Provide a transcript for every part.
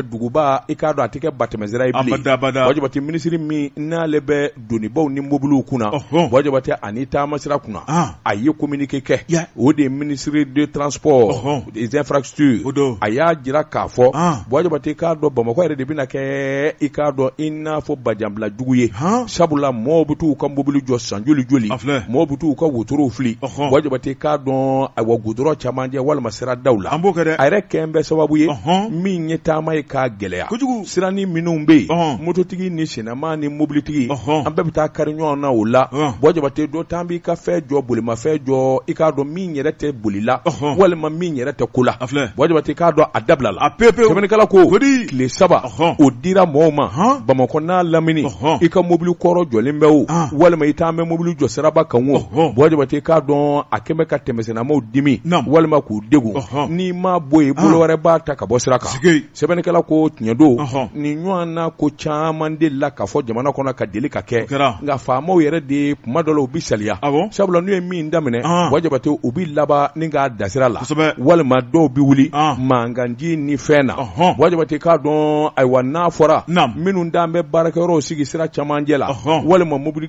duguba i k'a dɔn a tɛ kɛ batɛmɛsira ye bilen abada abada Buwa Jabate minisiri min n'ale bɛ donibaw ni mobiliw kunna Ɔhɔn. Buwa Jabate ani taamasira kunna Ah. a ye communiqué kɛ Ya. o de ye ministre de transport Ɔhɔn. des infrastructures O don. a y'a jira k'a fɔ Ah. Buwa Jabate k'a dɔn Bamakɔ yɛrɛ de bɛna kɛ i k'a dɔn i n'a fɔ bajanbila jugu ye Han. sabula mɔɔw bɛ t'u ka mobili jɔ san joli joli A filɛ. mɔɔw bɛ t'u ka wotorow fili Ɔhɔn. Buwa Jabate k'a dɔn ayiwa gudɔrɔn camancɛ walima sira daw la an b'o kɛ dɛ a yɛrɛ kɛn bɛ sababu ye min ye taama ye k'a gɛlɛya kojugu siranin minnu bɛ yen mototigi ni sennama ni mobilitigi an bɛɛ bɛ taa kari ɲɔgɔn na o la Buwa Jabate dɔ taan b'i ka fɛn jɔ bolimafɛn jɔ i k'a dɔn min yɛrɛ tɛ bolila walima min yɛrɛ tɛ ko la Buwa Jabate k'a dɔn a dabila la a pepe sɛbɛnnikɛla ko tile saba o dira mɔgɔw ma bamakɔ n'a lamini i ka mobili kɔrɔ jɔlen bɛ o walima i taan bɛ mobili jɔ siraba kan o Buwa Jabate k'a dɔn a kɛn bɛ ka tɛmɛ Sennamaw dimi walima k'u degun n'i ma bɔ yen bolo wɛrɛ b'a ta ka bɔ sira kan sɛbɛnnikɛla ko tiɲɛ don nin ɲɔgɔnna ko caman delila ka fɔ jamana kɔnɔ ka deli ka kɛ nka faamaw yɛrɛ de kuma dɔ la u bɛ saliya sabula n'u ye min daminɛ Buwa Jabate u bɛ laban ni k'a da sira la walima dɔw bɛ wuli mankanci ni fɛn na Buwa Jabate k'a dɔn ayiwa n'a fɔra minnu taalen bɛ baarakɛyɔrɔw sigi sira camancɛ la walima mobili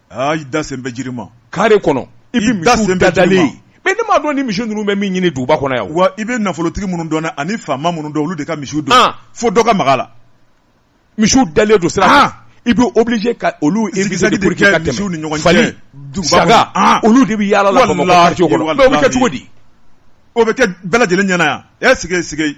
aa i da sen bɛ jiri ma kare kɔnɔ i bɛ misiw dadalen mais ne m'a dɔn ni misi ninnu bɛ min ɲini duguba kɔnɔ yan wa i bɛ nafolotigi minnu dɔn ani faama minnu dɔn olu de ka misiw don ah. fo dɔ ka maga la misiw dalen don sira kan i bɛ obligé ka olu misiw ni ɲɔgɔn cɛ saga ah. olu de bɛ yaala la bamakɔ quartier kɔnɔ o bɛ kɛ cogo di o bɛ kɛ bɛɛ lajɛlen ɲɛna yan ɛ sigi sigi